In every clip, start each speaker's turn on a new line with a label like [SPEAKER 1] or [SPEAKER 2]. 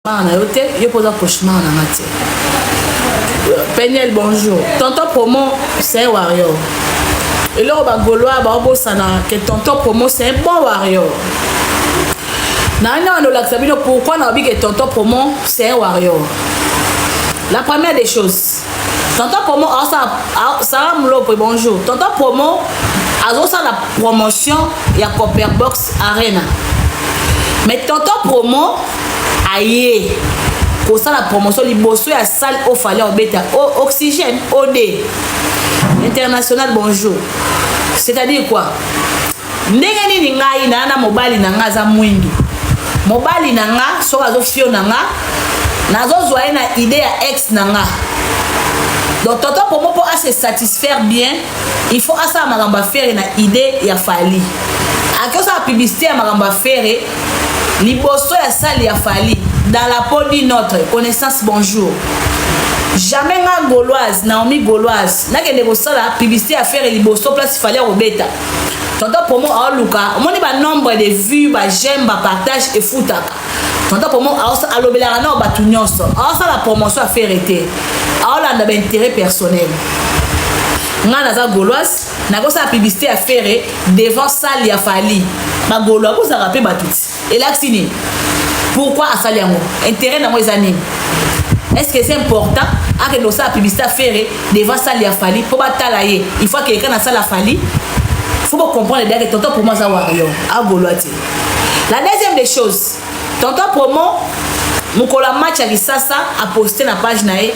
[SPEAKER 1] na yo te yo mpo oza cauchemar na nga te peniel bonjour tonton promo c'est warrior eloko bagolois baobosana ke tonton promo c'est un bon warrior nani wana olakisa bino pourquoi naobi ke tonton promo c'est un warrior la première des choses tonton promo aosala sara mulopwe bonjour tonton promo azosala promotion ya copperbox arena mais tonton promo aye kosala promotion liboso ya salle oyo fale obeta o oxygène od international bonjour c'est-à-dire quoi ndenge nini ngai naa na mobali na ngai aza mwindu mobali na nga soki azofio na nga nazozwa ye na ide ya ex na nga donc tonton pomo mpo ase satisfaire bien il faut asala makambo ya fere na ide ya fali ake osala publicité ya makambo ya fere liboso ya sale ya fali dans la peau du notre connaissance bonjour jamais nga gauloise naomi gauloise nakende kosala publicité ya fere liboso place fali akobeta tonton promo aoluka omoni ba nombre de vue ba j'aime ba partage efutaka tonton promo alobelaka nao bato nyonso aosala promotion ya fere te aolanda ba intérêt personnel ngai naza gauloise nakosala publicité ya fere devant salle ya fali bagaulois bozalaka mpe bato ti elakisi nini pourquoi asali yango intérêt nango eza nini est ce que eza important akende kosala publicité afere devant sale ya fali mpo batala ye il faut akende kana asala fali faut bocomprendre dake tonton promo aza wario agolwa te la deuxième des choses tonton promo mokolo ya match ya lisasa aposte na page na ye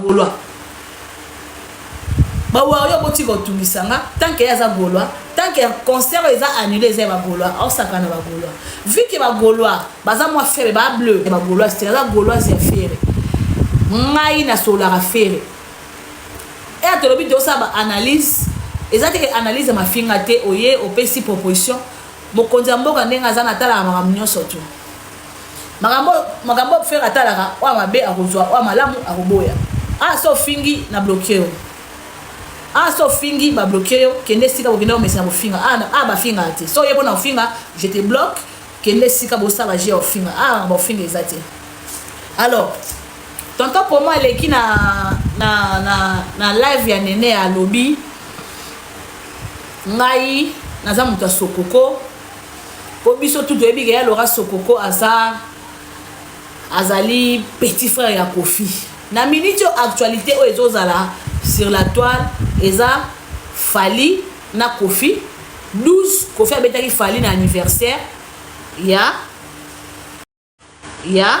[SPEAKER 1] golois ba warrior botika otungisa nga tant que aza golois tant que concert eza annulé eza ba golois osaka na ba golois vu que ba golois baza mwa ferre ba bleu ba golois c'est la goloise ya ferre ngai na solara ferre et atolobi te osala ba analyse eza te ke analyse ya mafinga te oye opesi proposition mokonzi ya mboka ndenge aza natalaka makambo nyonso tu makambo makambo fere atalaka oyo mabe akozwa oyo malamu akoboya ah so fingi na bloke yo ah so fingi ba bloke yo kende sika kokende komesana kofinga ah, ah bafingaka te so ye mpona kofinga je te bloque kende sika bosala je ya kofinga ah baofinga eza te alors tonton pomo aleki na, na, na, na live ya nene alobi ngai naza moto ya sokoko po biso tout toyebi ke ya Laura Sokoko aza azali petit frère ya Kofi na minute oyo actualité oyo ezozala sur la toile eza Fally na Kofi 12 Kofi abetaki Fally na anniversaire ya ya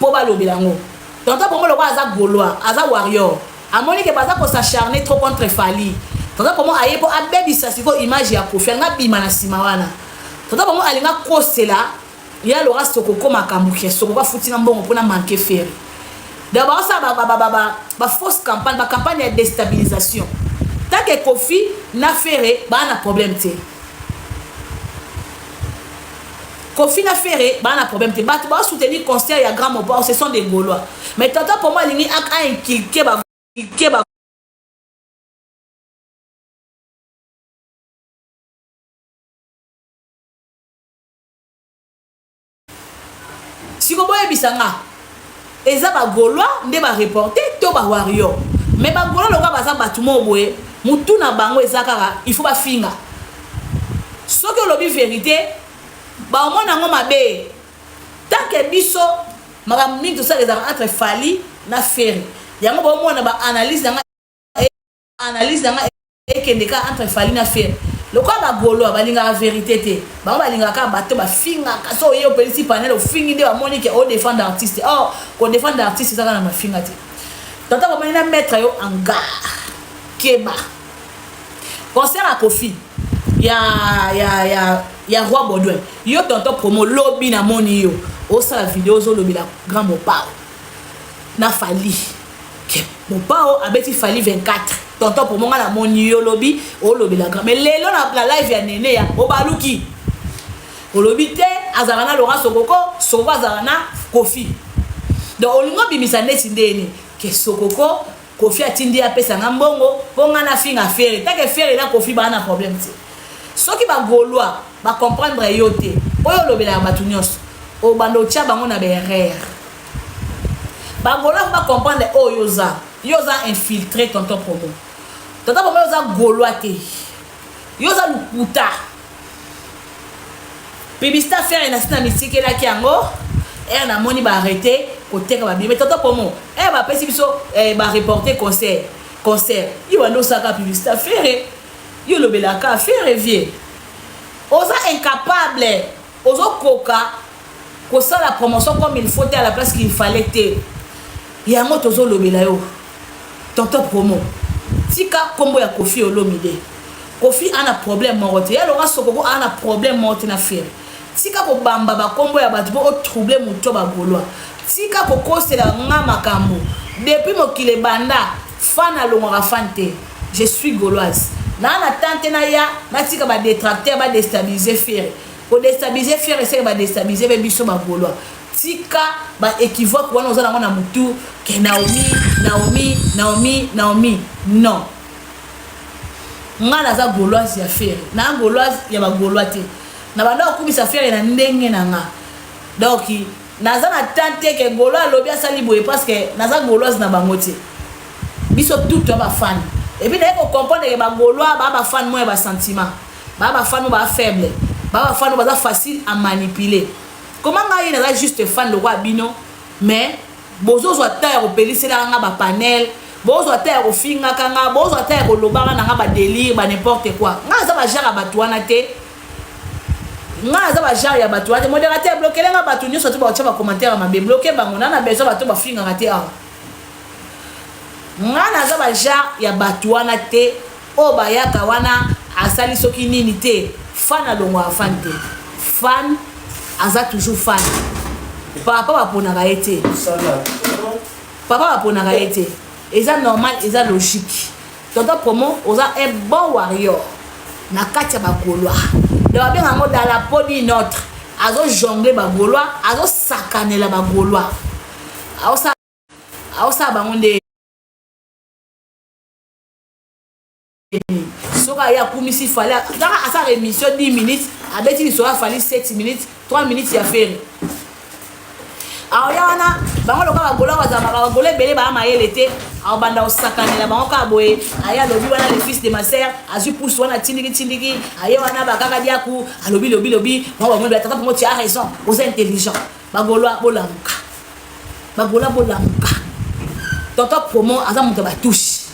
[SPEAKER 1] po balobela yango tonton promo lokola aza golois aza warrior amoni ke baza ko s'acharner trop contre Fally tonton promo aye po abebisa siko image ya Koffi alinga bima na sima wana tonton promo alinga kosela ya lora sokoko makambo ke sokoko afutinga mbongo pona manque ferre donc baosala ba, ba, ba, ba, ba, ba fausse campagne ba campagne ya destabilisation tanke Koffi na ferre baa na problème te Koffi na Ferre ba na problème te batu ba soutenir concert ya Grand Mopao ce sont des Gaulois mais tonton Promo alingi a, a inculquer ba inculquer ba boyebisa nga eza bagaulois nde bareporte to bawario me bagaulois lokola baza bato moo boye motu na bango eza kaka il faut bafinga soki olobi verité baomona yango mabe tant que biso makambo mingi tosala ezalaka entre fali na ferre yango baomona baanalyse na ngai analyse na ngai ekende kaka entre fali na ferre lokola bagolois balingaka verité te bango balingaka kaka bato bafingaka so oye opelisi panel ofingi nde bamoni ke odefendre oh, artiste or oh, kodefendre artiste ezaka na mafinga te tata komani na maître yo anga keba concert ya kofi ya ya ya ya roi baudouin yo tonton promo lobi namoni yo osala video ozolobela grand mopao na fali mopao abeti fali 24 tonton promo ngai namoni yo lobi olobela grand mais lelo na, na live ya nene ya obaluki olobi te azalaka na laurent sokoko sokoko azalaka na kofi donc olingi obimisa neti ndeni ke sokoko Kofi atindi ye apesa nga mbongo mpo nga nafinga Ferre. Take Ferre na Kofi baa na problème te. Soki ba Gaulois ba comprendre yo te mpo yo olobelaka bato nyonso obanda otya bango na baerreur. Ba Gaulois mpo ba comprendre oyo yo oza. Yo oza infiltré tonton promo. Tonton promo yo oza Gaulois te. Yo oza lokuta. Pibista ferre na sina mitikelaki yango ere namoni baarrete koteka babie me toto pomo ere eh, bapesi biso eh, bareporte concert concert yo banda osaka pibista ferre yo olobelaka ferre vie oza incapable ozokoka kosala promotion comme il faut te à la place qu'il fallait te yango tozolobela yo Tonton promo tika kombo ya koffi olomide koffi ana problème moko te ya loka sokoko ana problème moko te na ferre tika ko bamba ba kombo ya batu po o trouble mutu to ba golois tika ko kosela nga makambu depuis mokili ebanda fan alongwaka fan te je suis goloise na na tante na ya na tika ba detracteur ba destabiliser ferre Ko destabiliser ferre seke ba destabiliser pe biso ba golois. Tika ba equivoque wana oza nango na mutu ke Naomi, Naomi, Naomi, Naomi. Non. Nga naza goloise ya ferre. Na goloise ya ba golois te. Na banda kokumisa ferre na ndenge na nga. Donc naza na temps te ke golois alobi asali boye parce que naza goloise na bango te. Biso tout ba fan. Et puis naye ko comprendre ke ba golois ba ba fan moya ba sentiment. Ba ba fano ba faible. Ba ba fano baza facile à manipuler. Comment nga ye naza juste fan lokola bino mais bozo zwa temps ya kopelisela nga ba panel bozo ata ya kofinga kanga bozo ata ya kolobaka na nga ba délire ba n'importe quoi. Nga aza ba genre ya bato wana te. Nga aza ba genre ya bato wana te. Modérateur bloquer nga bato nyoso to ba otya ba commentaire mabe bloquer bango na na besoin bato ba fingaka te awa. Nga naza ba genre ya bato wana te. Oyo bayaka wana asali soki nini te fan alongwaka fan te fan aza toujours fan papa baponaka ye te papa baponaka ye te eza normal eza logique tonton promo oza un bon warrior na kati ya bagolois donc babenga yango dans la peau d'une autre azojongle bagolois azosakanela bagolois aosala bango nde soki aye akumisi fali kaka asala émission 10 minutes abeti lisolo ya fali 7 minutes 3 minutes ya fere aoya wana bango loka bagola bazalaka bagola ebele baya mayele te aobanda kosakanela bango kaka boye aye alobi wana le fils de ma sœur azwi pusu wana tindiki tindiki aye wana bakaka diaku alobi lobi lobi bango bamoni batata bango tu as raison oza intelligent bagoloa bolamuka bagoloa bolamuka tonton promo aza moto ya batouche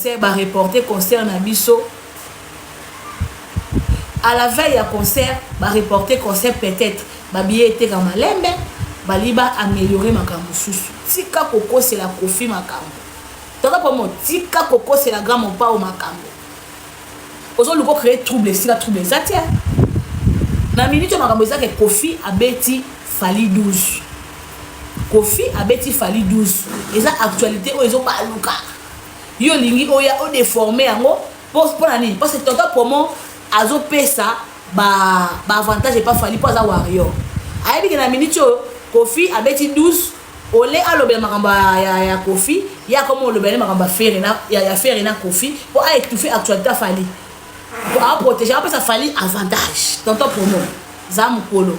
[SPEAKER 1] concert ba reporter concert na biso à la veille ya concert ba reporter concert peut-être ba billets eteka malembe bali ba améliorer makambo mosusu tika kokosela kofi makambo toza pomo tika kokosela grand mopao makambo ozoluka ocree trouble esika trouble eza te na minute oyo makambo ezake kofi abeti fali 12 kofi abeti fali 12 eza actualité oyo ezobaluka yo olingi oya o deformer yango po pona nini parce que tonton promo azo pesa ba ba avantage epa fali po aza warrior ayebi ke na minute oyo kofi abeti 12 ole alobela makambo ya, ya kofi ye akoma olobela nde makambo ya fere na, ya, ya fere na kofi mpo aétouffe actualité ya fali mpo aprotége apesa fali avantage tonton promo za mokolo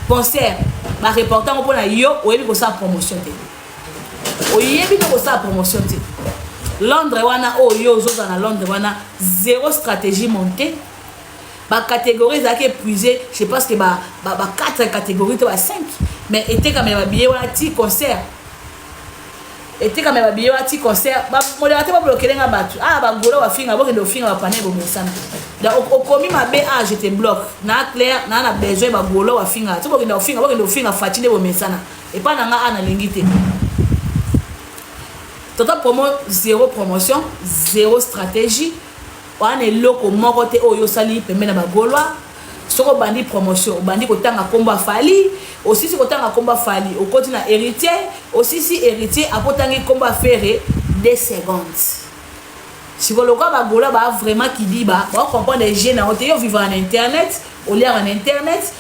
[SPEAKER 1] concert bareporte yango mpo na yo oyebi kosala promotion te oyebi nde kosala promotion te londres wana oyo oh, yo ozozala na londres wana zero stratégie monte bacatégorie ezalaki épuise je sais pas que ba, ba, ba 4 catégorie to ba 5 mais etekama ya babiye wana ti concert etekama ya babiye wana ti concert modela te bablokele nga bato a ah, bagola wafinga bokende ofinga bapana ebomesana donc okomi mabe a ah, je te bloque na claire naa na besoin bagolo wafinga ti bokende ofinga bokende ofinga fati nde bomesana epa na nga a nalingi te tata promo zero promotion zero stratégie wana na eloko moko te oyo osali pembe na bagolwa soki obandi promotion obandi kotanga nkombo ya fali osisi kotanga nkombo ya fali okoti na héritier osisi héritier akotangi nkombo ya fere 2 secondes sikoyo lokola bagola ba vraiment kidiba baokomprendre ege na yo te yo vivaka na internet oliaka na internet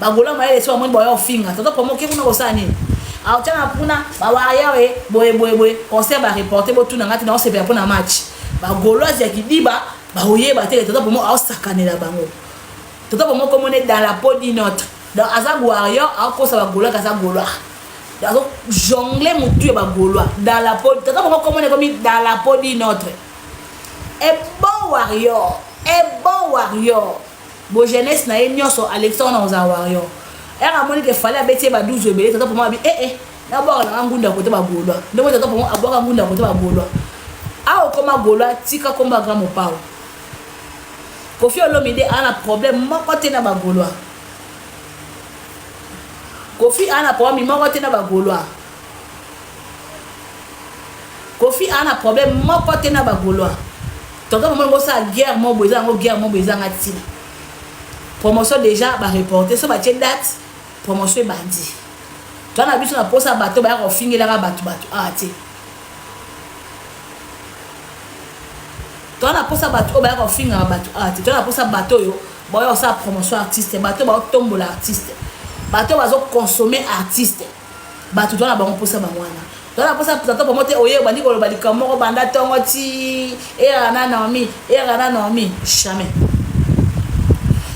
[SPEAKER 1] bagola mayele so bamoni baya ofinga tata promo oke kuna kosala nini aotya na kuna bawayawe boyeboyeboye concert bareporte botuna ngai te naosepela mpo na match bagoloise ya kidiba baoyeba te tata promo aosakanela bango tata promo komona dans la peau d'une autre donc aza warrior aokosa bagolois kaza golois azo jongle motu ya bagolois dans la peau tata promo komona ekomi dans la peau d'une autre un bon warrior un bon warrior Bo jeunesse na ye nionso alekisa wana kozala warrior. Heure amoni ke fallait abeti ye ba 12 ebele tata promo abi eh eh na bwaka na nga ngunda kote ba golois. Nde moni tata promo abwaka ngunda kote ba golois. A okoma golois tika komba grand mopao. Kofi Olomide a na problème moko te na ba golois. Kofi a na problème moko te na ba golois. Kofi ana problème moko te na ba golois. Tonton mama ngo sa guerre mobo eza ngo guerre mobo eza ngati. Promotion déjà ba reporter so ba tie date promotion ebandi. Toi na biso na posa bato ba ya ko fingela ka bato bato ah te. Toi na posa bato ba ya ko fingela bato ah te. Toi na posa bato yo ba ya ko sa promotion artiste bato ba tombola artiste. Bato ba zo consommer artiste. Batu toza na bango posa bango wana. Toza na posa plateau bango te oye obandi koloba likambo moko banda tongo ti era na Naomi, era na Naomi, jamais.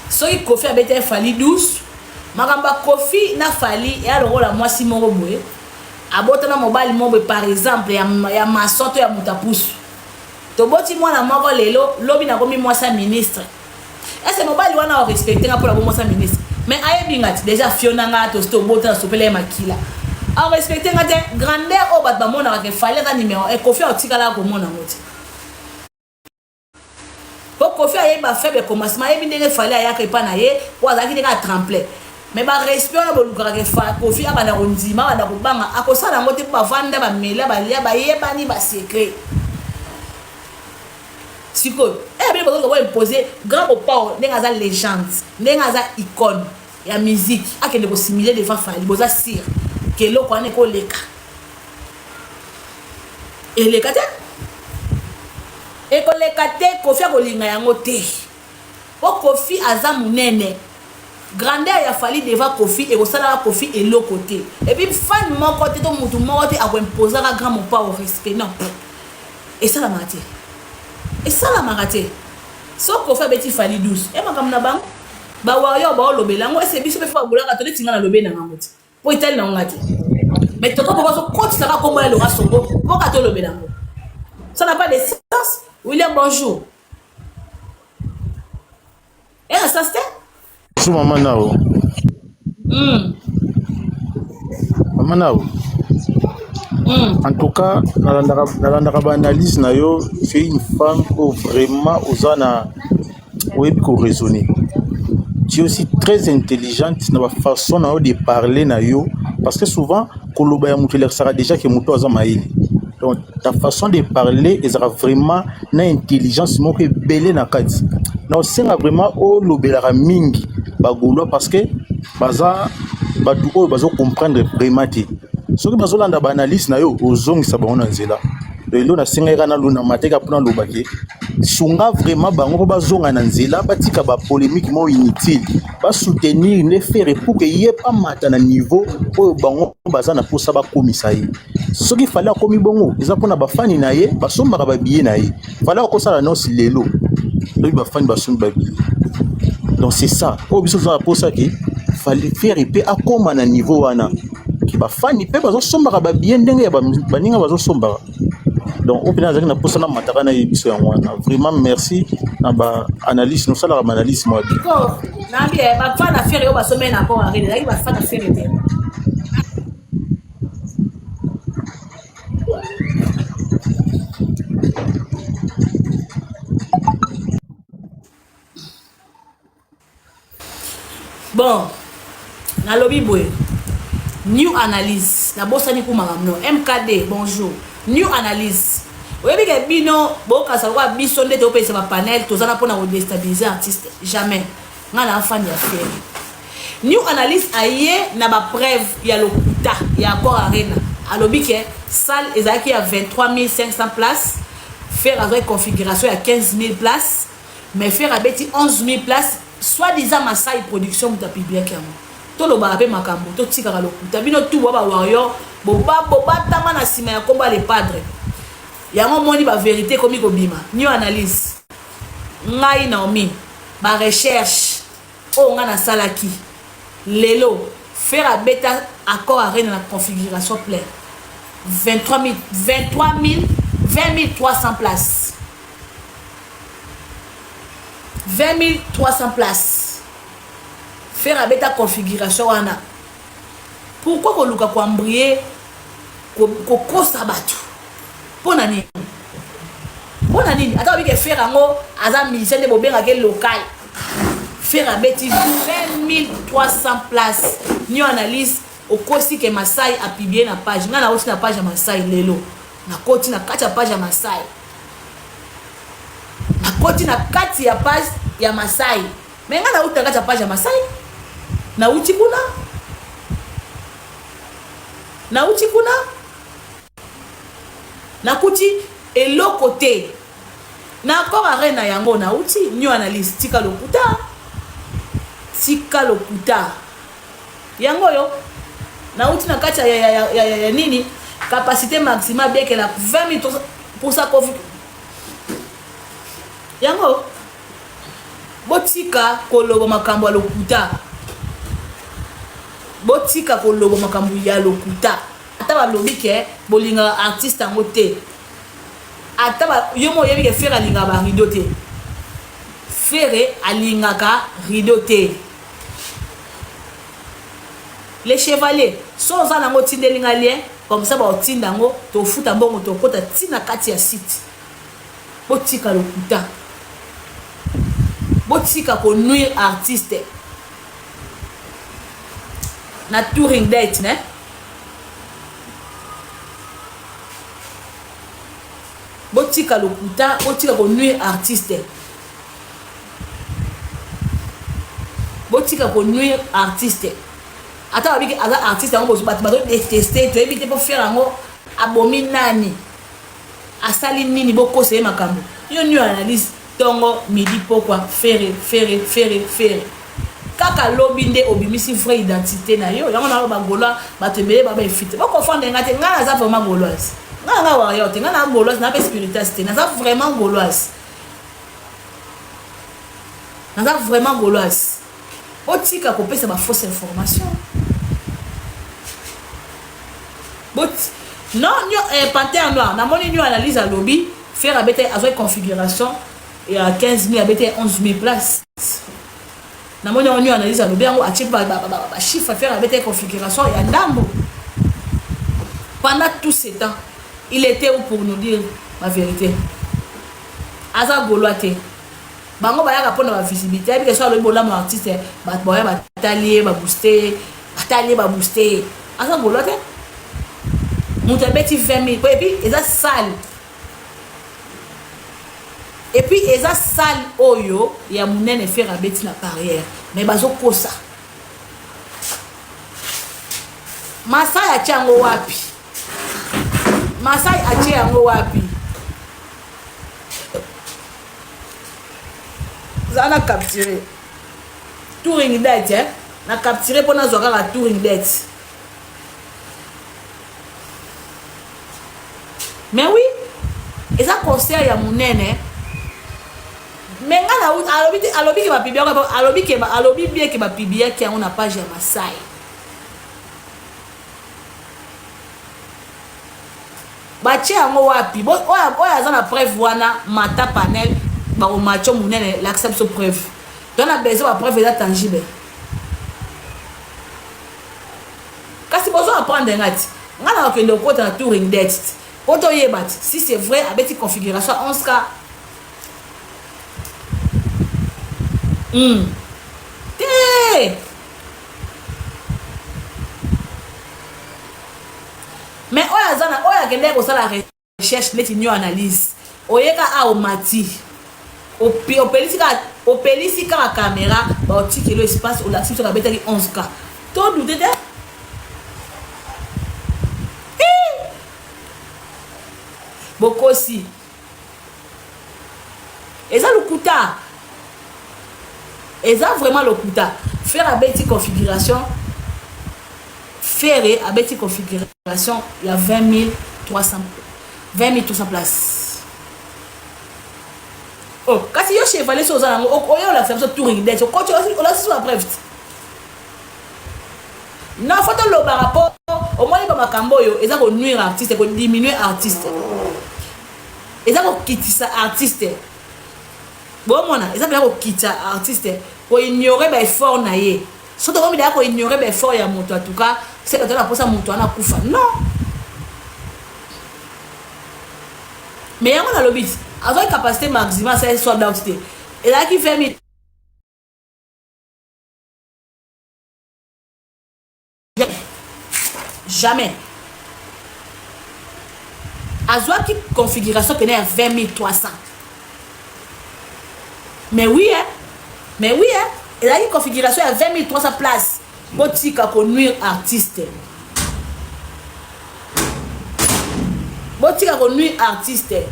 [SPEAKER 1] Soki Kofi abeta Fally 12 makambo Kofi na Fally ya lokola mwasi moko boye abota na mobali moko boye par exemple ya, ya mason to ya moto apusu toboti mwana moko lelo lobi nakomi mwasi ya ministre Est-ce que mobali wana o respecter nga pona bomosa ministre? Mais ayebi nga ti déjà fiona nga to sto bota na sopela makila. A respecter nga te grandeur o bat ba mona ka ke fallait ka numéro e kofi o tikala ko mona moti. Po kofi ayebi ba faible commencement ayebi ndenge fallait ayaka epa na ye po azalaki ndenge a tremplait. Mais ba respect wana bolukaka ke fa kofi abanda kondima abanda kobanga akosala yango te po bavanda bamela balia bayebani ba secret. sikoyo eh bino bazo ko imposer grand mopao ndenge aza legende ndenge aza icone ya musique akende ko simuler devant Fally boza sur que eloko wana eko leka eleka te ekoleka te kofi akolinga yango te Po koffi aza munene. Grandeur ya Fally devant koffi ekosalaka koffi eloko te. Et puis fan moko te to mutu moko te ako imposaka grand mopao respect non. Esalamaka te. Esalamaka te. So koffi abeti Fally 12. E makambo na bango. Ba warrior ba olobela yango ese biso pe fa bolaka to neti nga na lobe na ngango te. Po etali na nga te. Mais toto poko so kotisaka kombo ya Laurent Songo mpo ka tolobela yango. Ça n'a pas de sens. William bonjour. ela sasi te su mama
[SPEAKER 2] nao mm. mama nao mm. en tout cas nalandaka nalandaka ba analyse na yo tu es une femme oyo vraiment oza na oyebi ko raisonner tu es aussi très intelligente na bafaçon na yo de parler na yo parce que souvent koloba ya moto elakisaka déjà ke moto aza mayele donc ta façon de parler ezalaka vraiment na intelligence moko ebele na kati na osenga vraiment olobelaka mingi ba gaulois parce que baza bato oyo bazo comprendre vraiment te soki bazolanda ba analyse na yo ozongisa bango na nzela lelo nasengaki kaka nalona mateka mpo naloba te sunga vraiment bango mpo bazonga na nzela batika ba polémique moko inutile basoutenir nde fere pour que ye amata na niveau oyo bango baza na mposa bakomisa ye soki fali akomi bongo eza mpona bafani na ye basombaka babiye na ye fali akosala nosi lelo lobi bafani basombi babiye donc c'est ça oyo biso tozala mposa ke fali fere mpe akóma na niveau wana ke bafani mpe bazosombaka babiye ndenge ya baninga bazosombaka donc oyo mpena azalaki na mposa na mataka na ye biso yango wana vraiment merci na baanalyse nosalaka baanalyse mwa bi na bafana
[SPEAKER 1] fere oyo basomeli na mpo ezalaki bafana fere te bon nalobi boye new analyse nabosani kuma mamno mkd bonjour new analyse oyebi ke bino bokasa lokola biso nde topesa bapanel toza na mpona kodestabilize artiste jamais nga na fan ya ferre new analyse aye na ba preuve ya lokuta ya accord arena alobi ke salle ezalaki ya 23500 place ferre azwaki configuration ya 15000 place mais ferre abeti 11000 place soit disant masai production moto apibliaki yango tolobaka mpe makambo totikaka lokuta bino tu bwa bawario bobatama na nsima ya nkombo ya lepadre yango omoni baverité ekomi kobima new analyse ngai naomi ba recherche oyo ngai nasalaki lelo fere abeta accord arena na configuration plein 23 000 20300 place 20300 place fere abeta configuration wana pourkoi koluka koambrie kokosa bato mpo na nini mpo na nini ata babike fere yango aza musicien nde bobengaka ye local fere abeti 2300 place nio analyse okosi ke masai apiblie na page ngai nauti na page ya masai lelo nakoti na kati ya page ya masai nakoti na kati ya page ya masai Mais nga na uta kati ya page ya Masai. Na uti kuna. Na uti kuna. Na kuti eloko te. Na encore arena yango na uti new analyse tika lokuta. Tika lokuta. Yango yo na uti na kati ya, ya, ya, ya, ya, ya nini capacité maximale biekela 20 minutes pour ça covid yango Botika koloba makambo ya lokuta. Botika koloba makambo ya lokuta. Ata balobi ke bolingaka artiste yango te. Ata ba, yo mo oyebi ke Ferre alingaka ba rideau te. Ferre alingaka rideau te. Le chevalier, so oza nango tindeli nga lien, comme ça ba otinda yango, tofuta mbongo tokota tina kati ya site. Botika lokuta. Botika ko nuire artiste. Na touring date ne. Botika lokuta, botika ko nuire artiste. Botika ko nuire artiste. Ata babiki aza artiste yango bato bazo deteste toyebi te po faire yango abomi nani. Asali nini bokosa ye makambo yo nio analyse tongo midi pokwa ferre ferre ferre ferre Kaka lobi nde obimisi vrai identite nayo yango na loba golois batu ebele ba ba efite bo confondre nga te nga naza vraiment goloise nga na nga warrior te nga na goloise na pe spiritas te naza vraiment goloise naza vraiment goloise Botika kopesa ba fausse information bot non nio eh, panthère noir namoni nio analyse alobi ferre abete azwaki configuration ya 15 000 abete 11 000 place namoni yango nio analyse alobi yango atie bachiffre ferre abete configuration ya ndambo pendant tout ce temps il était où pour nous dire la vérité aza golois te bango bayaka mpo na ba visibilité ayebi ke so alobi bolamu artiste bato baya batali ye babooste ye batali ye babooste ye aza golo te moto abeti 20 mille epuis eza sale epuis eza sale oyo ya monene fere abeti na carrière mais bazokosa masai atie yango wapi masai atie yango wapi zala na capture touring date eh? na capture mpo nazwa kaka touring date mais oui eza concert ya monene me nga na alobi te alobi ke bapibi yango alobi ke alobi bie ke bapibi yaki yango na page ya masai batie yango wapi oyo aza na preuve wana mata panel bakomacho monene lakisa biso preuve to na besoin bapreuve eza tangible kasi bozo apprendre nga ti nga na bakende okota na touring det po toyeba ti si c'est vrai abeti configuration 11 ka mm. te Mais oyo aza na oyo akendeki kosala recherche neti nyo analyse oyeka a omati opelisi kaka opelisi kaka kamera baotikelo espace olakisi biso kabetaki 11 ka to dute te bokosi eza lokuta eza vraiment lokuta ferre abeti configuration ferre abeti configuration ya 20 300 20 300 place oh kasi yo chevalier so oza nango oyeolakisa biso touring det okoti olakisi biso baprevte Non faut tolobaka po omoni ba makambo oyo eza ko nuire artiste ko diminuer artiste eza kokitisa artiste bomona eza mpenza kokitisa artiste koignore baeffort na ye so tokomi daya koignore baeffort ya moto atuka se bato na mposa moto wana akufa non me yango nalobi azwaki capacité maxima asali sold out te ezalaki 20 jamais azwaki configuration pene ya 20300 mais oui eh? mais oui eh? ezalaki configuration ya 20300 place botika konuire artiste botika konuire artiste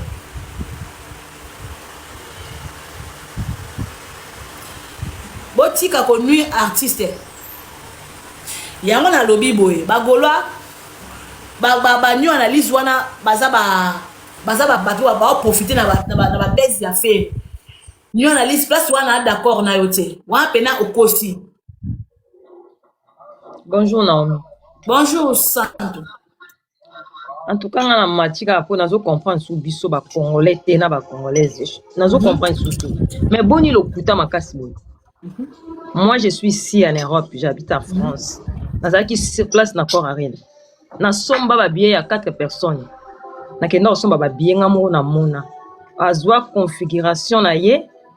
[SPEAKER 1] botika ko nuire artiste yango nalobi boye bagolwa banio ba, ba, analyse wana baza ba baza ba bato baoprofite na babese ya fere nio analyse place wana d'accord na yo te wana mpena okosi
[SPEAKER 3] bonjour naomi bonjour
[SPEAKER 1] santu
[SPEAKER 3] en tout cas nga na mati kaka mpo nazo comprendre su biso ba congolais te na ba congolaise nazo mhm. comprendre su te mais boni lokuta makasi boye mhm. moi je suis ici en europe j'habite en france nazalaki sur place na corps arena nasomba babiye ya 4 personnes nakenda kosomba babiye nga moko namona azwa configuration na ye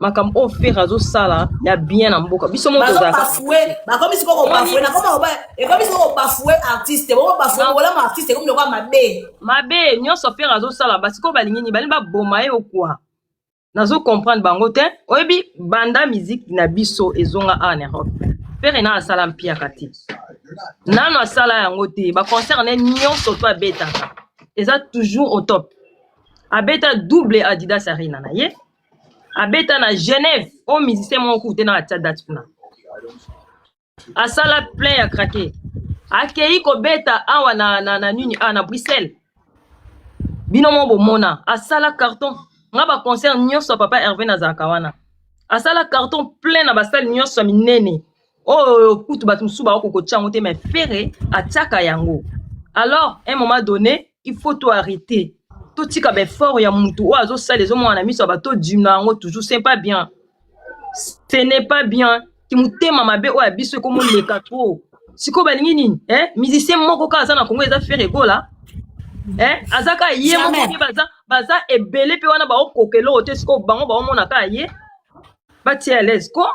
[SPEAKER 3] makambo oyo fere azosala ya bien na mboka biso moko tozalabafue
[SPEAKER 1] bakomi siko kobafue nakoma oba ekomi siko kobafue artiste boko bafue bolama artiste ekomi lokola mabe mabe nyonso fere azosala
[SPEAKER 3] basikoyo balingi nini balingi baboma ye okua nazo comprendre bango te oyebi banda miziki na biso ezonga awa na europe fere na asala mpiaka te nano asala yango te baconcert ne nyonso to abetaka eza toujours au top abeta double adidas arena na ye abeta na genève oyo musicien moko kutu te na atia date kuna asala plein ya krake akei kobeta awa na, na, na nini awa na bruxelles bino moko bomona asala carton nga baconcert nyonso ya papa herve nazalaka wana asala carton plein na basale nyonso ya minene oyo kutu bato mosusu baoko kotya yango te mais ferre atiaka yango alors un moment donné il faut to arrêter totika baeffort ya motu oyo azosala ezomona na miso ya bato odima yango toujours ce pas bien ce n'est pas bien kimotema mabe oyo ya biso ekomoleka trop sikoyo balingi nini eh? musicien moko kaka aza na kongo eza ferre egola eh? aza kaka ye moko baza, baza ebele mpe wana baokoka eloko te sikoyo bango baomona kaka ye batia alaise ko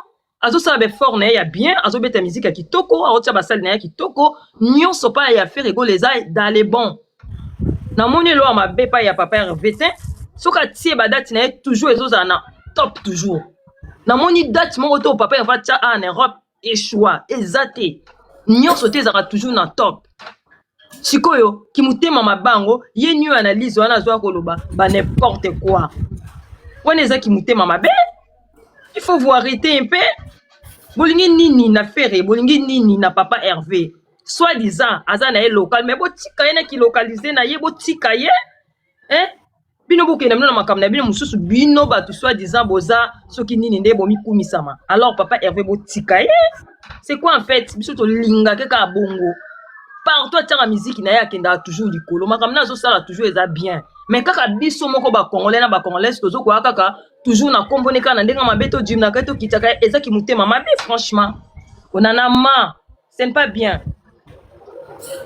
[SPEAKER 3] azosala baeffort na ye ya bien azobeta miziki ya kitoko aotya basali na ye ya kitoko nyonso epai ya fere egola eza dans le bon namoni eloya mabe epai ya papa herve te soki atie badati na ye toujours ezozala na top toujours namoni date moko to papa herve atya a en europe echoi eza te nyonso te ezalaka toujours na top sikoyo kimutema mabe yango ye nio analyse wana azoya koloba ba n'importe quoi wana eza kimutema mabe il faut vous arrêter un peu bolingi nini na fere bolingi nini na papa herve soit disant aza na ye local mais botika ye na kilocalise na ye botika ye eh? bino bokenda bino na makambo na bino mosusu bino bato soit disant boza soki nini nde bomikumisama alors papa herve botika ye c'est quoi en fait biso tolingake kaka bongo partout atiaka miziki na ye akendaka toujours likolo makambo na azosala toujours eza bien mais kaka biso moko bacongolais na bacongolaise tozokoya kaka toujours na nkombo ne kaka na ndenge mabe todimnaka tokitaka eza kimotema mabe franchement onanama Ce n'est pas bien.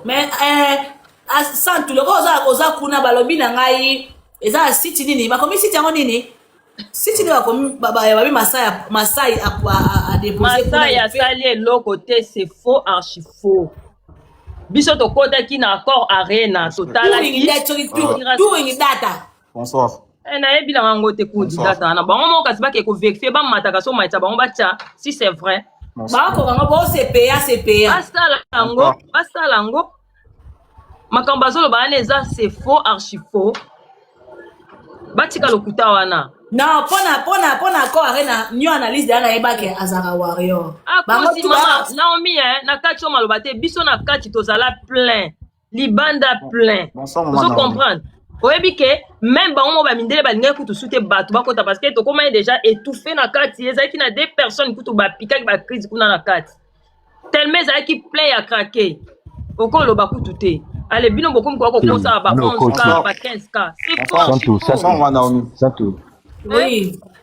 [SPEAKER 1] Mais euh, ah, santu loko oza oza kuna balobi na ngai eza site nini bakomi site yango nini site nini bakomi babi masai masai a déposer masai asali
[SPEAKER 3] eloko te c'est faux archi faux biso tokotaki na accord arena totalaki doing
[SPEAKER 1] data
[SPEAKER 4] bonsoir eh, nayebi na yango
[SPEAKER 3] te kundi data na bango moko kasi bake koverifie bamataka so matisa bango batya si c'est vrai bakoka ngo
[SPEAKER 1] bosepeya sepeya basala yango
[SPEAKER 3] basala yango makambo bazoloba wana eza c'est faux archi faux batika lokuta wana non pona pona
[SPEAKER 1] pona accord arena new analyse deya nayebaki azalaka warrior akosi ah, mama
[SPEAKER 3] naomi eh, na kati yo maloba te biso na kati tozala plein libanda plein ozo comprendre oyebi ke meme bango moko bamindele balingaki kutu su te bato bakota parce que tokomaki déjà étouffe na kati ezalaki na deux personnes kutu bapikaki bacrise kuna na kati tellement ezalaki plein ya krake okoloba kutu te ale bino bokomi koya kokosala ba 11 ka ba 15 ka c'est fort santu santu santu oui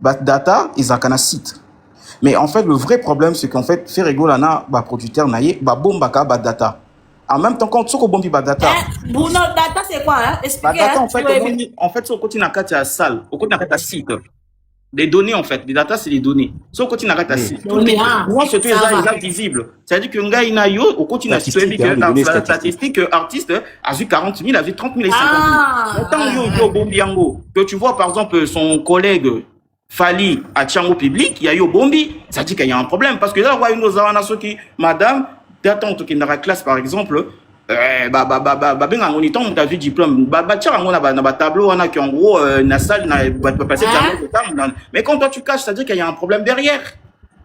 [SPEAKER 4] Ba data ezalaka na site. Mais en fait, le vrai problème, c'est qu'en fait, Ferregola na ba producteur na ye, ba bombaka ba data. En même temps, quand tu bombi ba data. Eh, Bruno, data
[SPEAKER 1] c'est quoi hein? Expliquez. Ba data, hein, en fait, omoni,
[SPEAKER 4] en fait, so koti na kati ya salle, au koti na kati ya site. Des données, en fait. Les data, c'est des données. So koti na kati ya site. Données, ah. Moi, surtout, ils sont visibles. C'est-à-dire que ngai na yo okoti na strebi que la statistique que artiste a vu 40 000, a vu 30 000 et 50 000. Ah, Autant ah, yo yo bombi yango que tu vois par exemple son collègue Fali à Tiango public, il y a eu bombi, ça dit qu'il y a un problème parce que là ouais nous avons na soki madame d'attendre que na classe par exemple euh, ba ba ba ba ba ben on est en ta vie diplôme ba ba tiens on a ba na ba tableau on a qui en gros euh, na salle na ba passer hein? mais quand toi tu caches ça dit qu'il y a un problème derrière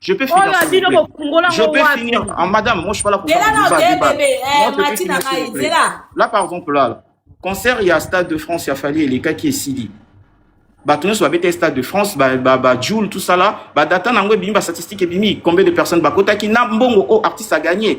[SPEAKER 4] Je peux finir. Oyo abino ko fungola Je peux finir. Ah, madame, moi je suis pas là pour faire du débat. débat. Bébé, eh, moi, je finir, s'il vous plaît. Là, par exemple, là, concert, il y a Stade de France, il y a Fali et les cas qui est Sidi. bato nyonso babeta stade de france bajoule ba, ba, tout ça là badata na yango ebimi bastatistique ebimi combien de personnes bakotaki na mbongo oyo oh, artiste aganye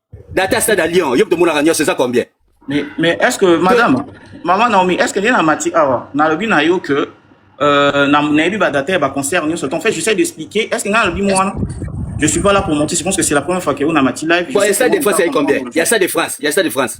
[SPEAKER 5] data ya stade ya lyon yo tomonaka nyonso eza combien mais, mais est ce que
[SPEAKER 4] madame maman naomi est ce que nde na mati awa nalobi na yo que euh, nayebi badata ya baconcert nyonso ton fait j'essaie d'expliquer est ce que ngai nalobi mo wana je suis pas là pour monter je pense que c'est la première fois que on a mati live bon, ya stade de france ayi combien
[SPEAKER 5] ya stade de france ya stade de france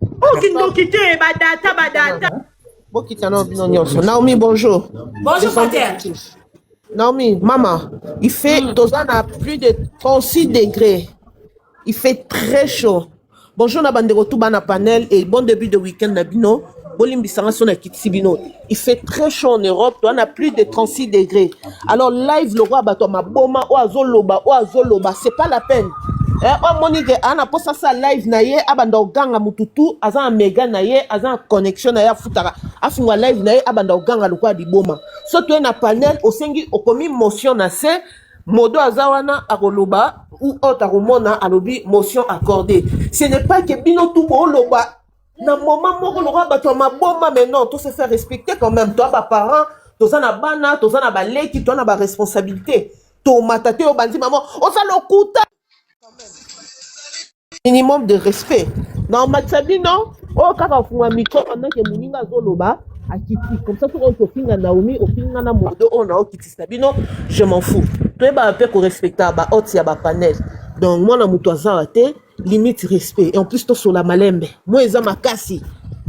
[SPEAKER 6] okindoki te badata badata bokita nao bino nyonso naomi bonjour bonjour pater
[SPEAKER 1] naomi
[SPEAKER 6] mama il fait mm. toza na plus de 36 degré il fait très chaud bonjour na bandeko tu bana panel et bon début de week-end na bino bolimbisanga so na kitisi bino te Il fait très chaud en Europe, on a plus de 36 degrés. Alors live le roi bato maboma o azoloba o azoloba, c'est pas la peine. Eh, o moni ke ana posa sa live na ye abanda oganga mututu aza na mega na ye aza na connexion na ye afutaka afungwa live na ye abanda oganga lokola liboma so toye na panel osengi okomi motion na se modo aza wana akoloba ou autre akomona alobi motion accordée ce n'est pas que bino tu booloba na moment moko lokola bato ya maboma mais non to se faire respecter quand même toi baparent toza na bana toza na baleki toza na baresponsabilité tomata te obandi mama oza lokuta minimum de respect na omatisa bino oyo kaka ofunga mikro pendant ke moninga azoloba akiti comme ça soki ofinga naomi ofinga na modo oyo naokitisa bino je m'en fous toyebaka mpe korespecta bahote ya bapanel donc mwana moto azawa te limite respect et en plus tosola malembe moi eza makasi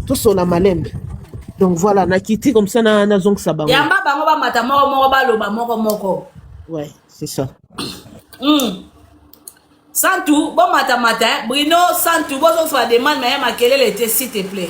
[SPEAKER 6] tosola malembe donc voilà nakiti comme ça na nazongisa bango yamba bango bamata
[SPEAKER 1] moko moko baloba moko moko ouais
[SPEAKER 6] c'est ça mm.
[SPEAKER 1] santu bomatamata eh? brino santu bozongisa bademande maye makelele te s'il te plaît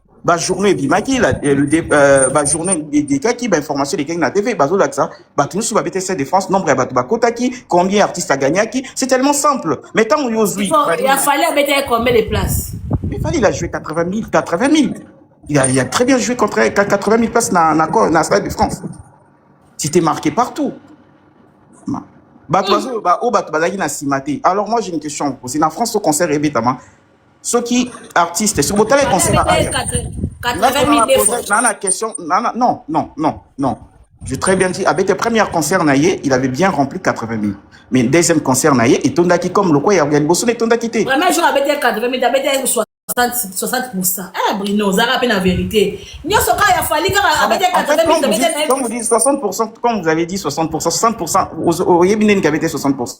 [SPEAKER 4] ba journée ebimaki la- eh, le dé- euh, ba journée elekaki ba information elekaki na tv bazolakisa bato nyonso babeta stade de france nombre ya bato bakotaki combien artiste agagnaki c'est tellement simple mais ntango yo ozwi Faut- Fally- ya fali abeta ye
[SPEAKER 1] combien de place mais fallait il a joué 80 000 80
[SPEAKER 4] 000 il a, il a très bien joué contre 80 000 places na, na, co- na stade de france c'était marqué partout Ma- bato bazo- ba- oyo bato bazalaki na nsima te alors moi j'ai une question à vous poser na france to concert ebetama soki artiste soki botala ye concert na aya
[SPEAKER 1] na na question na na
[SPEAKER 4] non non non non j'ai très bien dit abete première concert na ye il avait bien rempli 80 000 mais deuxième concert na ye etondaki comme lokwa ya liboso na etondaki te vraiment jour abete 80 000
[SPEAKER 1] abete 60 pourcent eh brino ozalaka mpe na vérité nyonso kaka ya fali kaka abete 80 000 abete comme vous dites 60 pourcent
[SPEAKER 4] comme vous avez dit 60 pourcent 60 pourcent oyebi ndeni kabete 60 pourcent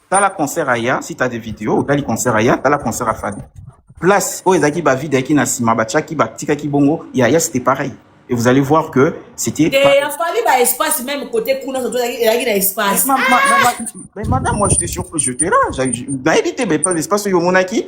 [SPEAKER 5] tala concert aya si t'as des vidéos otali concert aya tala concert ya fadi place oyo ezalaki bavide yaki na nsima batiaki batikaki bongo ya ya c'était pareil et vous allez voir que c'était te ya fali ba
[SPEAKER 1] espace même côté kuna soto ezalaki na espace mais
[SPEAKER 5] madame moi j'étais sur j'étais là nayebi te mais pas espace oyo omonaki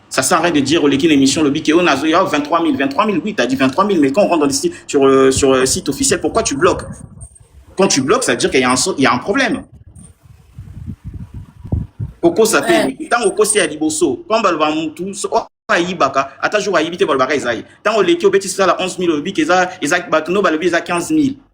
[SPEAKER 5] Ça sert à rien de dire, oleki une émission, le bique, on a 23 000, 23 000, oui, t'as dit 23 000, mais quand on rentre dans le site, sur, euh, sur le euh, site officiel, pourquoi tu bloques Quand tu bloques, ça veut dire qu'il y, y, a un problème. Pourquoi ça fait Tant au conseil à Liboso, quand on va tout, ayibaka ata jour ayibi te balobaka eza ye ntango oleki obetisi sala 11 000 olobi ke eza bato no balobi eza 15 000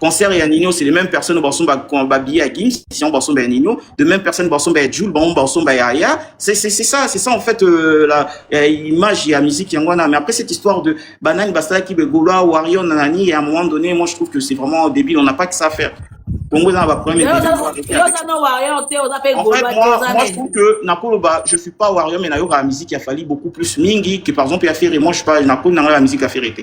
[SPEAKER 5] concert ya nino c'est les mêmes personnes basomba babillet ya gims sinon basomba ya nino de même personne basomba ya jule bango basomba ya ya c'est c'est c'est ça c'est ça en fait euh, la euh, image ya musique yango wana mais après cette histoire de banani basalaki begoloa warrior nanani et à un moment donné moi je trouve que c'est vraiment débile on n'a pas que ça à faire Congo eza na ba problème en fait moi moi je trouve que nakoloba je suis pas warrior mais nayokaka musique ya fali beaucoup plus mingi que par exemple ya ferre moi je suis pas nakoli nanga ya musique ya ferre te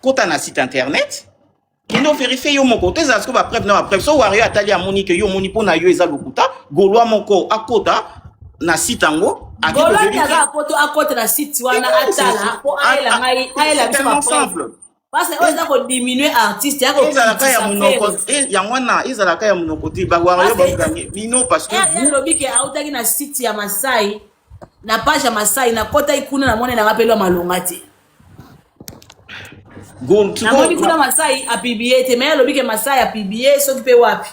[SPEAKER 5] kota na site internet kende overifie yo moko to ezala siko bapreuve na bapreuve so wario atali amoni ke yo omoni mpo na yo eza lokuta golwa moko akota na site yango golwataka
[SPEAKER 1] poto akota na site wana atala mpo ayela ngai ayela biso bapreuve
[SPEAKER 5] parce oyo eza
[SPEAKER 1] kodiminue artiste yakoezalaka ya monoko eh,
[SPEAKER 5] yango wana ezalaka ya monoko te bawario bagange bino parce que eh, alobi ke autaki
[SPEAKER 1] na site ya masai na page ya masai nakotaki kuna namoni nanga mpe lwa malonga te namoni kuna masai apiblie te me alobi ke masai apiblie soki mpe wapi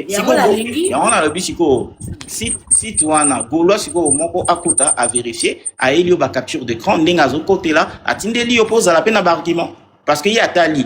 [SPEAKER 1] yango
[SPEAKER 5] nalingi yango nalobi sikoyo site wana golois sikoyo moko akuta averifie ayeli yo bacapture d'écran ndenge azokotela atindeli yo mpo ozala mpe na baargument parce que ye atali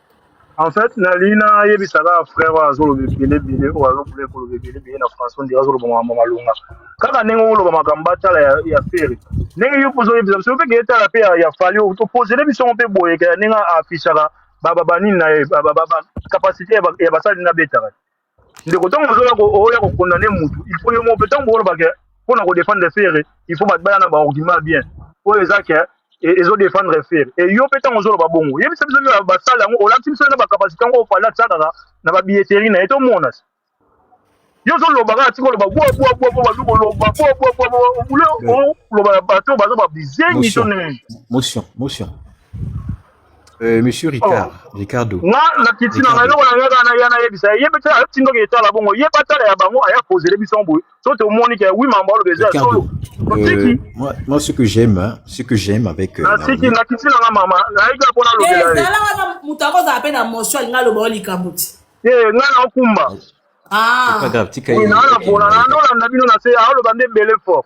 [SPEAKER 7] En fait, na lina yebi sala frère wa zolo bele bele o alo bele ko bele bele bele na façon de zolo bonga mama lunga. Kaka nengo wolo ba makamba tala ya ya feri. Nengo yo pozo yebi biso pe geta la pe ya ya fali o to poser le biso pe boye ka nenga affichaka ba ba ba nini na ba ba ba capacité ya ba ya ba sali na beta. ndeko ntango ozoya oya kokondane motu il faut yo moko mpe ntango bokoloba ke mpo na kodefendre fere il faut bato baya na baargument bien oyo eza ke e, ezodefendre fere e yo mpe ntango ozoloba bongo yebisa biso nde basala yango olakisi biso na bacapacité yango ofali atya kaka na babilleteri na ye tomona yo ozoloba kaka tika oloba bwabwabwa mpo bazo koloba bwabwabwa obule oloba na bato baza babizengi to nini
[SPEAKER 8] Euh, monsieur oh. Ricard, oh. Ricardo. Nga na piti
[SPEAKER 7] na ngai lokola nga kana yana yebisa ye pe tala piti ndoki etala bongo ye pa tala ya bango aya poser biso mbo so te omoni ke oui mambo lo beza solo. Euh, moi
[SPEAKER 8] moi ce que j'aime hein, ce que j'aime avec euh, na piti na piti
[SPEAKER 7] na nga mama na ika pona lo bela. Ezala wana mutako
[SPEAKER 1] za pe na motion alinga lo ba likambo ti. Eh nga na
[SPEAKER 7] okumba. Ah.
[SPEAKER 8] Pas grave tika.
[SPEAKER 1] Ina
[SPEAKER 8] na pona na
[SPEAKER 7] ndola na bino na se alo bande bele fort.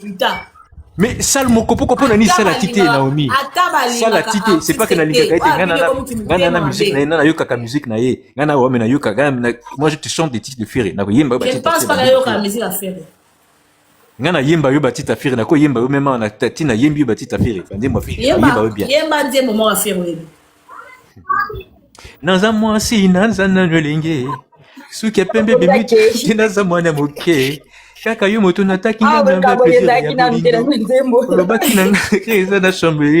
[SPEAKER 8] Putain. mais sale mokopoko mpo na nini sala ti te naomi sala ti te c'est pas que nalingaka ete ngai nana na musique na ye nana nayokaka musique na ye ngai na wame nayokaka moi je te chante des titres de ferre nakoyemba
[SPEAKER 1] ngai
[SPEAKER 8] nayemba yo batite ya ferre nakoyemba yo meme na ti nayembi yo batite ya ferre banzembo ya ferre yemba yo bien naza mwasi naza nano elenge suki ya pembe bimiti naza mwana moke kaka yo moto nataki nga na nga ezalaki na mpela na nzembo olobaki na nga ke eza na chambre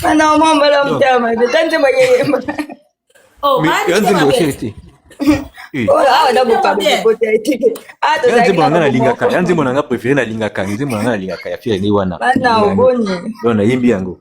[SPEAKER 9] ana mwa mbala motema mabe ta nzembo yeyemba
[SPEAKER 1] nzembo osili
[SPEAKER 8] te
[SPEAKER 9] nzembo nanga nalingaka ya
[SPEAKER 8] nzembo nanga préféré nalingaka nzembo nanga nalingaka ya fiere nde wana oyo
[SPEAKER 9] nayembi yango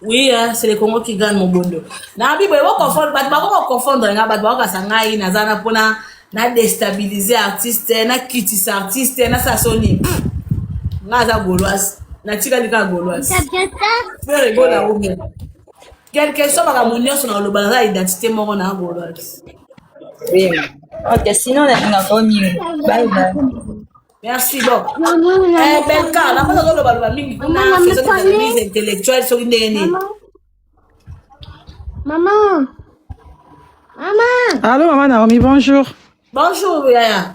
[SPEAKER 9] Oui, hein,
[SPEAKER 1] c'est le Congo qui gagne mon bondo. Na bibo ebo confondre, bato bako ko confondre nga, bato bako kasa ngai naza na pona na déstabiliser artiste, na kitisa artiste, na sa soni. Nga aza gauloise, na tika lika gauloise. Peur ego na omi. Quelque soit makambo nyonso na koloba naza identité moko na gauloise.
[SPEAKER 9] Ok, sinon nalingaka yo mingi. Bye bye.
[SPEAKER 1] Merci bon. Eh Belka, na
[SPEAKER 10] kota koloba loba mingi kuna faisons des analyses intellectuelles
[SPEAKER 11] soki ndenge nini. Maman. Maman. Allô maman Naomi, bonjour. Bonjour
[SPEAKER 1] Yaya.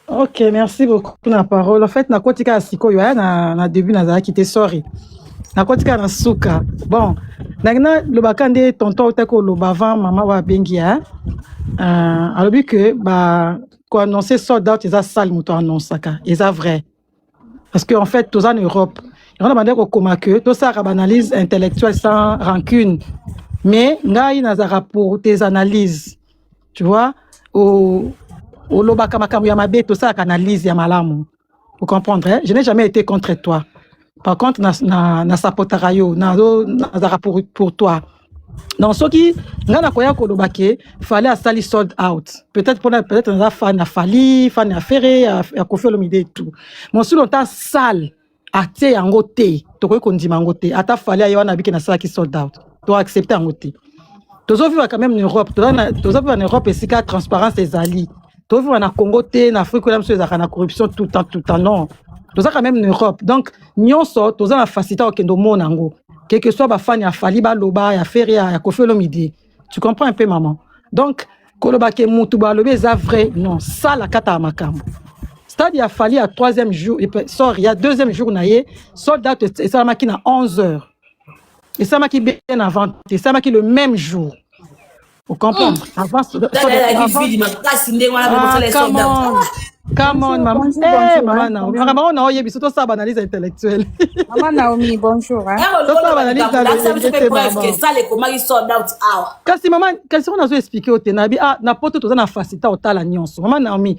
[SPEAKER 1] Ok,
[SPEAKER 11] merci beaucoup pour la parole. En fait, na kotika sikoyo ya na na début nazalaki te sorry. Na kotika na suka. Bon, na na lobaka nde tonton otako loba avant maman wa bengi ya. Euh, alobi que ba ko annoncer sold out eza sale moto annonsaka eza vrai parce que en fait toza na europe yango na bandaki kokoma ke tosalaka baanalyse intellectuelle sans rancune mais ngai nazalaka pour tes analyses tu vois olobaka makambo ya mabe tosalaka analyse ya malamu Vous comprenez hein? Je n'ai jamais été contre toi. Par contre, na, na, na sapotaka yo, na, na, pour, pour toi. Donc, ce qui, nga na koya koloba ke, fallait à sali sold out. Peut-être pour peut-être na fan à Fali, fan à Ferré, à, à Kofi Olomide et tout. Mon sous longtemps sale, à te yango te, tokoki kondima yango te. Ata Fali ayo na biki na sala ki sold out. to accepter yango te tozoviva quand même na europe tozoviva na europe esika transparence ezali tozoviva na congo te na afrique oyo biso ezalaka na corruption tout temps tout temps non toza quand même na europe donc nyonso toza na facilité ya kokende omona yango quelque soit bafani ya fali baloba ya feri ya kofi olomide tu comprends un peu maman donc koloba ke mutu balobi eza vrai non sala kata ya makambo stade ya fali ya troisième jour sorry ya deuxième jour na ye sold out esalamaki na 11 heures esamaki bien avant te esamaki le même jour ocomprendre hmm. avant Come on, maman. Bonjour, hey, eh, bonjour, maman hein, Naomi. Maman Naomi, on a biso to saba analyse intellectuelle. Maman Naomi,
[SPEAKER 10] bonjour. Hein. To saba analyse
[SPEAKER 11] intellectuelle. Ça les comment ils
[SPEAKER 1] sold out hour. Kasi maman,
[SPEAKER 11] kasi on a expliqué au tenabi ah na poto toza na facilité au tala nyonso. Maman Naomi,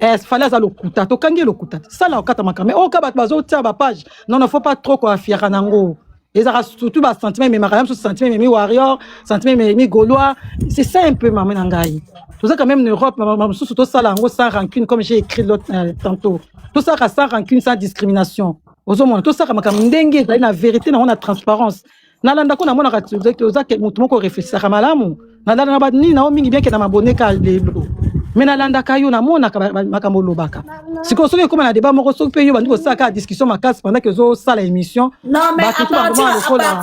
[SPEAKER 11] Eh, fale aza lokuta tokangi ye lokuta sala okata makambo me oyoka bato bazotia bapage non non faut pas trop koafiaka nango ezalaka surtout basentiment ememaka ya mosusu sentiment ememi warrior sentiment ememi gaulois c'est ça un peu mama na ngai tozaka même na europe mama mosusu tosala yango sans rancune comme j'ai écrit l'autre euh, tantôt tosalaka sans rancune sans discrimination ozomona tosalaka makambo ndenge ezali na vérité nango na transparence nalanda ko namonaka oza motu moko reflesisaka malamu nalanda na banini na yo mingi bianke na maboneka lelo me nalandaka yo namonaka makambo olobaka sikoyo soki ekoma na deba moko soki mpe yo bandi kosala kaka discussion makasi pendant ke ozosala émission bato to bango
[SPEAKER 1] lokola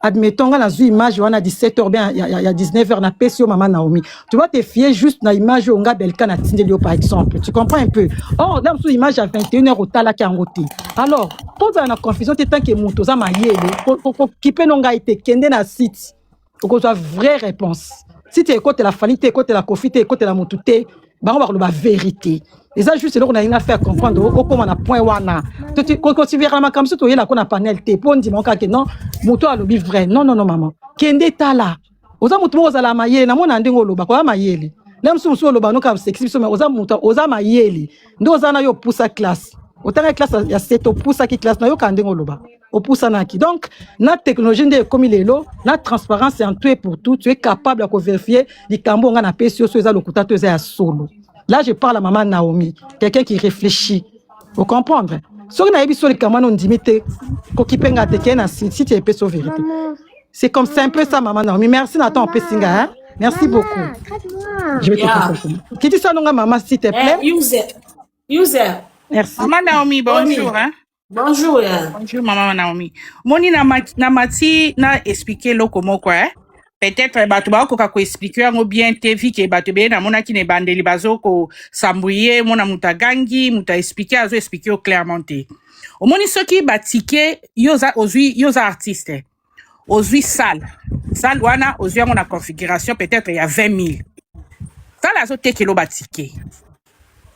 [SPEAKER 11] admettons nga nazwi image wana 17 heures bien ya, ya, ya 19 heures na pesi yo mama Naomi tu dois te fier juste na image oyo nga Belka na tindeli yo par exemple tu comprends un peu or na mosusu image ya 21 heures otalaki yango te alors kozala na confusion te tant que moto oza mayele kokipe no ngai te kende na site okozwa vraie réponse site ekotela fali te ekotela kofi te ekotela motu te bango bakoloba verite eza juste eloko nalingi nafe ya comprendre okoma na point wana kotiverana makambo so toyela ko na panel te mpo ndima oka ke non moto alobi vrai non non non mama kende tala oza moto moko ozala mayele namona ndenge oloba koya mayele na mosusu mosusu oloba noka sekisi biso oza moto oza mayele nde oza na yo opusa classe otanga classe ya sete opusaki classe nayoka ndenge oloba opusanaki donc na technologie nde ekomi lelo na transparence en tout et pour tout tu es capable ya koverifie likambo nga napesi yo so eza lokuta to eza ya solo là je parle à mama naomi quelqu'un qui réfléchit vous comprendre soki nayebi so likambo wana ondimi te kokipe nga te kei na site epesi yo verité c'est comme c'est un peu ça mama naomi merci na temps opesi nga hein? merci mama, beaucoup je vais yeah. te kitisa nonga mama s'il te eh, plaît eh, user user merci
[SPEAKER 1] mama
[SPEAKER 11] naomi bonjour
[SPEAKER 10] hein? Bonjour.
[SPEAKER 1] Yeah. Bonjour maman
[SPEAKER 10] Naomi. Moni na mati na, mati, na expliquer loko moko eh. Peut-être bato bakoka ko expliquer yango bien te vi ke bato ebele namonaki na ebandeli bazo kosambwiye mona moto agangi moto aexplike azo explike yo clairement te omoni soki batike yo oza ozwi yo oza artiste eh. ozwi salle salle wana ozwi yango na configuration peut-être ya 20 000 salle azotekelo batike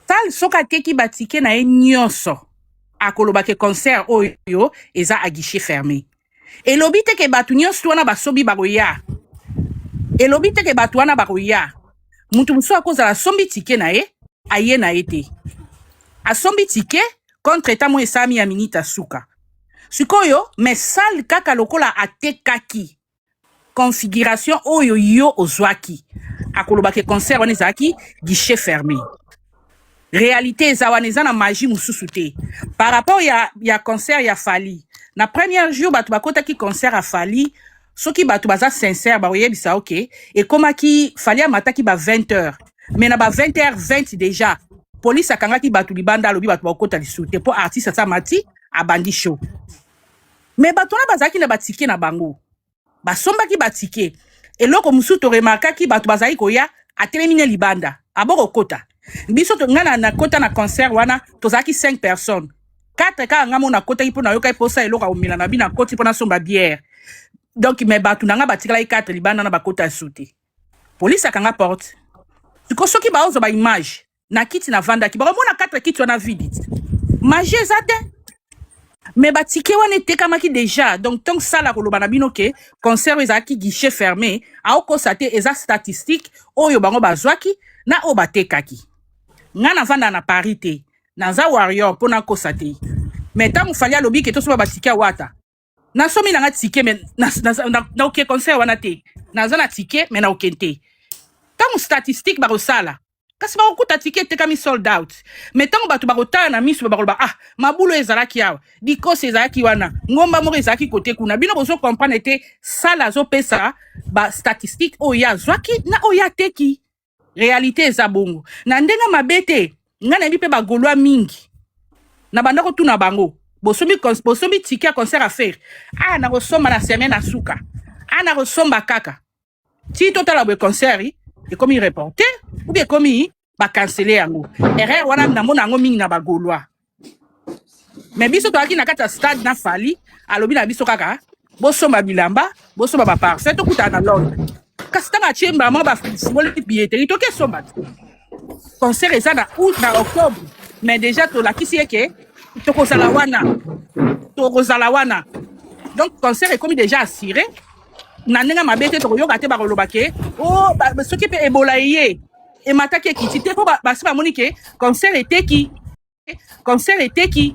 [SPEAKER 10] salle soki ateki batike na ye nyonso akoloba ke concert oyo eza a guichet fermé elobi te ke bato nyonso wana basobi bakoya elobi te ke bato wana bakoya moto mosusu akozala asombi tike na ye aye na ye te asombi tike contre etat moko esalami ya minite ya suka sikoyo mais sale kaka lokola atekaki configuration oyo yo ozwaki akoloba ke concert wana ezalaki guichet fermé réalité eza wana eza na magie mosusu te par rapport ya, ya concert ya fali na première jour bato bakotaki concert ya fali soki bato baza sincère bakoyebisa yo ke ekomaki fali amataki ba 20 heures mais na ba 20 heures 20 déjà polisi akangaki bato libanda alobi bato bakokota lisusu te mpo artiste asa mati abandi show mais bato wana bazalaki na batike na bango basombaki batike eloko mosusu toremarkaki bato bazalaki koya atelemi ne libanda abokokota biso to- ngai na- nakota na concert wana tozalaki 5 personnes 4 kaka nga mo nakotaki mpo nayokaki mposa eloko ya komela na bi nakoti mpo nasomba biere donc me bato na nga batikalaki 4 libanda na bakota ya sute polisi akanga porte siko soki baozwa baimage na kiti navandaki bakomona 4 kiti wana vidi magie eza te me batike wana etekamaki deja donc ntongo sala koloba na bino ke concert oyo ezalaki guichet fermé aokosa te eza statistique oyo bango bazwaki na oyo batekaki nga navanda na paris te naza warrior mpo nakosa te me ntango fali alobi ke tosoba batike ya wata nasomi nanga tike me naoke concert wana te naza na tike me naoke te ntango statistique bakosala kasi bakokuta tike etekami sold out me ntango bato bakotala na miso bakoloba ah mabulo ezalaki awa dikosi ezalaki wana ngomba moko ezalaki kote kuna bino bozo comprendre te sala azopesa bastatistique oyo ye azwaki na oyo ateki realite eza bongo na ndenge mabe te nga nayebi mpe bagolwa mingi na banda kotuna bango bosombi bosombi tike ya concert ya fere aya nakosomba na seme na suka aya nakosomba kaka ti totala boye concert ekomi reporte oubien ekomi bakansele yango erreur wana namona yango mingi na bagolwa mais biso toyaki na kati ya stade na fali alobi na biso kaka bosomba bilamba bosomba baparfum tokutana na londre kasi ntango atie mama bafungoli billeteri toki esomba te concert eza na août na octobre mais déjà tolakisi ye ke tokozala wana tokozala wana donc concert ekomi déjà assiré na ndenge mabe te tokoyoka te bakoloba ke o oh, soki mpe ebola eye emataki ekiti te mpo basi bamoni ke concert eteki concert eteki